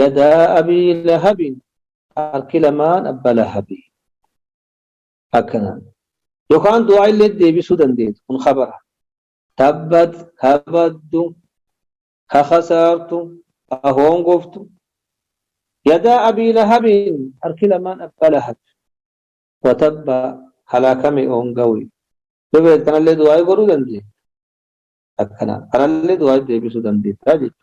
Yadaa abii lahabin harki lamaan abba lahabi akkana yokaan du'aa illee deebisuu dandeetu kun khabara tabbat kabaddu ka khasaartu ka hoongoftu yadaa abii lahabin harki lamaan abba lahab watabba halaakame oongawi yoo beektu kanallee du'aa godhuu dandeetu akkana kanallee du'aa deebisuu dandeettaa jechuudha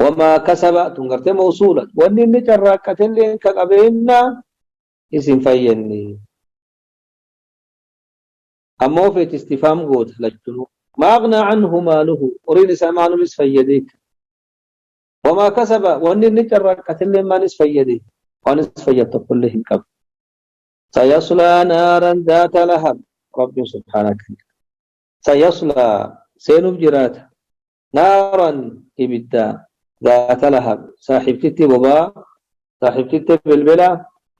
Wamaa kasaba tun gartee mawsuula. Wanni inni carraaqqatelleen ka qabeennaa is hin fayyadne. Ammoo feeti istifaam goota lachunuu. Maa aghnaa anhu maaluhu horiin isaa maalum is fayyadee ka. Wamaa kasaba wanni inni carraaqqatelleen maal is fayyade? Waan is fayyad tokkollee hin qabu. Sayaslaa naaran zaata lahab. Rabbiin subhaanaka. Sayaslaa seenuuf jiraata. naaran ibidda zaata lahab saaxibtitti bobaa saaxibtitti belbela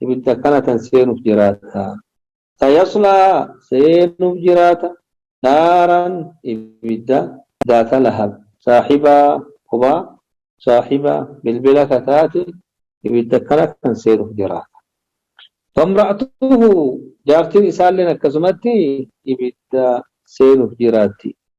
ibidda akkana tan seenuuf jiraata sayaslaa seenuuf jiraata naaran ibidda zaata lahab saaxiba bobaa saaxiba belbela ka taate ibidda akkana kan seenuuf jiraata famra'atuhu jaartiin isaalleen akkasumatti ibidda seenuuf jiraatti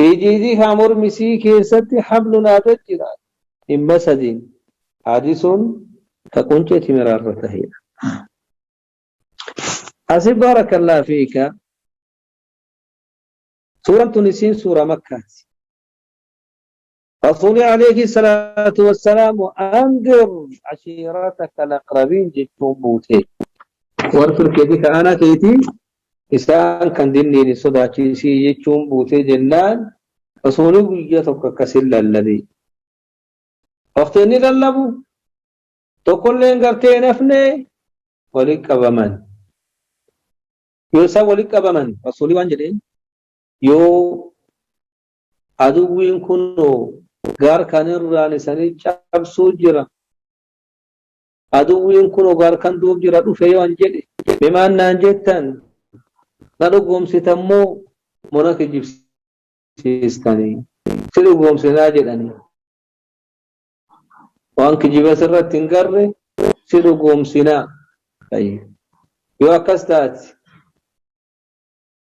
Hijiizii kaa mormi isii keessatti hablun aadad jira. Dhimma sadiin. Haadisuun ka quncee timiraa irra taheedha. Asi baarakallah fiika. Suuraan tun isiin suuraa makkaati. Rasuulii Aleeyhi Salaatu Wassalaamu Andir Ashiirata Kalaqrabiin jechuun buutee. Warra Turkeetii ka aanaa keetii isaan kan dinniin hin sodaachisii jechuun buutee jennaan Rasuulii guyyaa tokko akkasin lallabe. Waqti inni lallabu tokkolleen gartee hin hafne walitti qabaman. Yoo isaan walitti qabaman Rasuulii waan jedheen yoo Aduwwiin kunoo gaar kan irraan isanii cabsuu jira. Aduwwiin kunoo gaar kan duub jira dhufe yoo an jedhe. Mee maal naan jettan? Na dhugoomsitan moo moo na kijibsiistani? Si dhugoomsinaa jedhani. Waan kijiba sirratti hin garre si dhugoomsinaa. Yoo akkas taate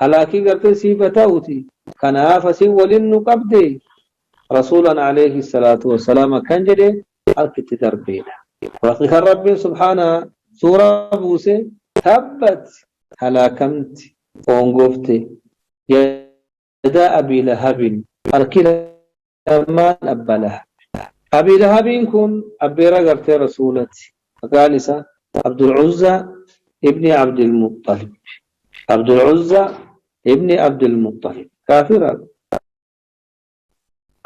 Halaakii gartee siif ha ta'uti kanaaf asin walin nu qabde Rasuulan Aleeyhi salaatu wa salaam akkan jedhe harki itti darbeedha. Raqi kan Rabbiin subhaanaa suuraa buuse tabbat halaakamti hoongofte yadaa Abii Lahabin harki Salmaan abba lahab. Abii lahabiin kun abbeera gartee rasuulati maqaan isa abdul uzzaa ibni abdil muxxalib. Abdul uzzaa ibni abdil muxxalib kaafira bar.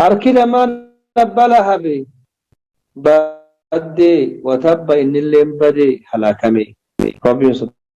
Harki lamaan abba lahabi baddee wa tabba innilleen badee halaakamee. Rabbiin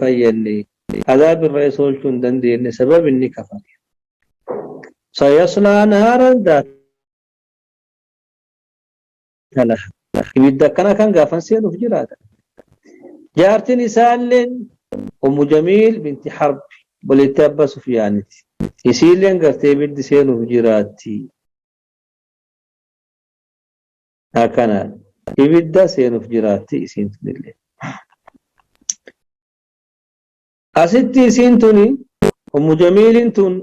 fayyadne azaab irra isa olchu hin dandeenne sabab inni kafare sayaslaa naaran daata laha ibidda akkana kan gaafan seenuuf jiraata jaartin isaalleen ummu jamiil binti harb boleetti abba sufyaaniti isiilleen gartee ibiddi seenuuf jiraatti Akanaadha. Ibidda seenuf jiraatti isiin tunille. Asitti isiin tuni ummu jamiilin tun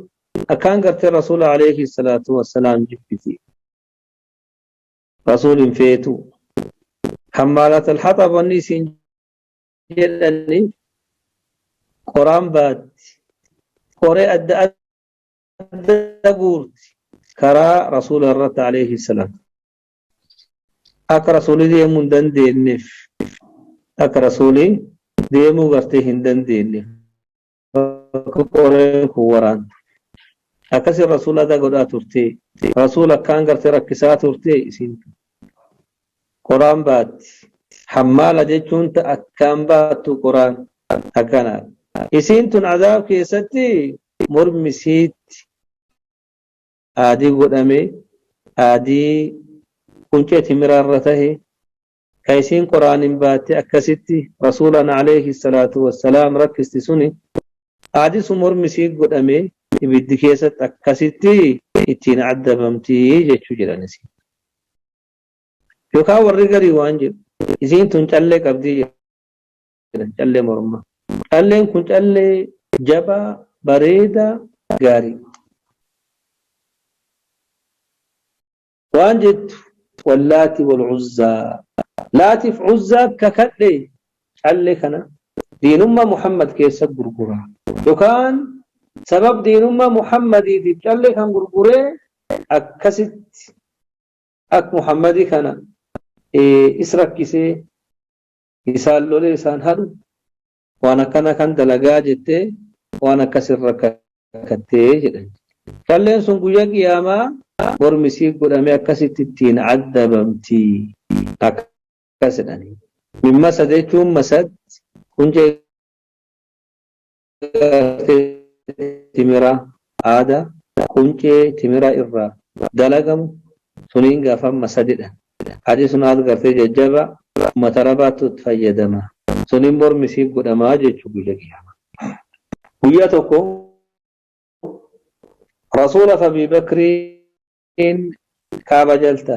akkaan gartee rasuula alayhi salaatu wassalaam jibbiti. Rasuul hin feetu. Hammaalat alhaxab wanni isiin jedhani qoraan baatti. Qoree adda adda guurti karaa rasuula irratti alayhi salaam akka rasuuli deemuu hin dandeenyeef akka rasuuli deemuu gartee hin dandeenyeef akka qoreen kun waraantu akkasi rasuula adda godhaa turte rasuula akkaan gartee rakkisaa turte isin qoraan baatti hammaala jechuun ta akkaan baattu qoraan akkanaadha isiin tun azaab keessatti Mormi siitti aadii godhame, aadii quncee timiraa irra tahe, ka isiin Qur'aaniin baattee akkasitti Rasuulaan aleyhi salaatu wa salaam rakkisti suni, aadii sun mormi isii godhamee ibiddi keessatti akkasitti ittiin addabamti jechuu jedhan isiin. Yookaa warri garii waan jedhu, isiin tun callee qabdi jedhu. jedhan callee mormaa. Calleen kun callee jabaa, bareedaa, gaariidha. Waan jettu wallaati wal uzzaa laatiif uzzaa kakadhe callee kana diinummaa Muhammad keessa gurgura yookaan sabab diinummaa Muhammadiitiif callee kan gurguree akkasitti ak Muhammadii kana is rakkisee isaan lolee isaan hadhu waan akkana kan dalagaa jettee waan akkas irra kakkattee jedhan calleen sun guyyaa qiyaamaa mormi isii godhamee akkasitti ittiin addabamti akkas jedhanii min masad jechuun masad quncee timira aada quncee timira irra dalagamu suniin gafamma sadidha adi sun aad gartee jajjaba ummata arabaattu itti fayyadama sunin mormi isii godhama jechu guyya qiyama guyya tokko rasuula fi abii bakriin kaaba jalta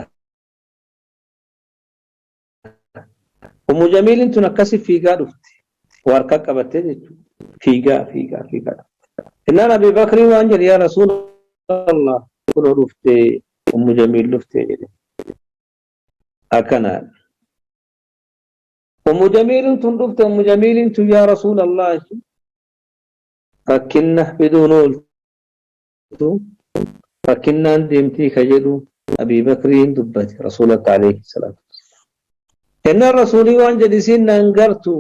Ummu Jamiilin tun akkasi fiigaa dhufte. Waa harkaa qabattee jechuudha. Fiigaa fiigaa fiigaa dhufte. Innaan Abii Bakrii waan jedhe yaa Rasuula Allah kunoo dhufte Ummu Jamiil dhufte jedhe. Akkanaa. Ummu Jamiilin tun dhufte Ummu Jamiilin tun yaa Rasuula Allah rakkinna fiduun oolte. jirtu rakkinnaan deemtii ka jedhu Abii Bakriin dubbate Rasuulatti alayhi salaatu wassalaam. Jennaan Rasuulii waan jedhe isiin na hin gartu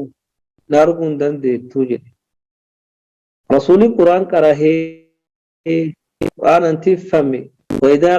na arguu hin dandeettu jedhe. Rasuulii Qur'aan qarahee Qur'aanan tiffame wa idhaa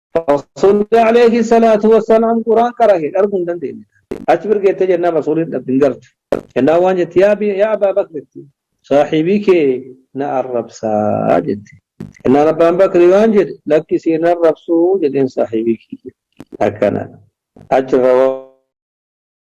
Rasuulli alayhi salaatu wassalaam quraan qarahe dhargu hin dandeenye. Achi birgeettee jennaan rasuulli hin dhabdu hin gartu. Jennaan waan jetti yaa bi- yaa abbaa bakritti saahibii kee na arrabsaa jetti. Jennaan abbaan bakri waan jedhe lakki siin arrabsuu jedheen saahibii kiyya. Akkana. Achirra waan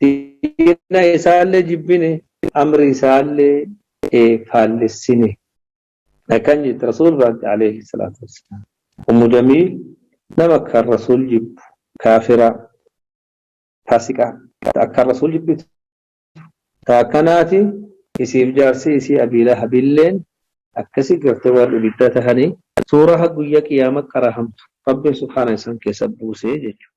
diina isaallee jibbine amri isaallee faallessine akkan jette rasuul biraatti alayhi salaatu wassalaam ummu jamiil nama akkaan rasuul jibbu kaafiraa faasiqaa akkaan rasuul jibbitu ta akkanaati isiif jaarsi isii abii lahabilleen akkasi garte warri ibidda tahanii suuraa ha guyya qiyaama qarahamtu rabbiin subhaana isaan keessa buusee jechuudha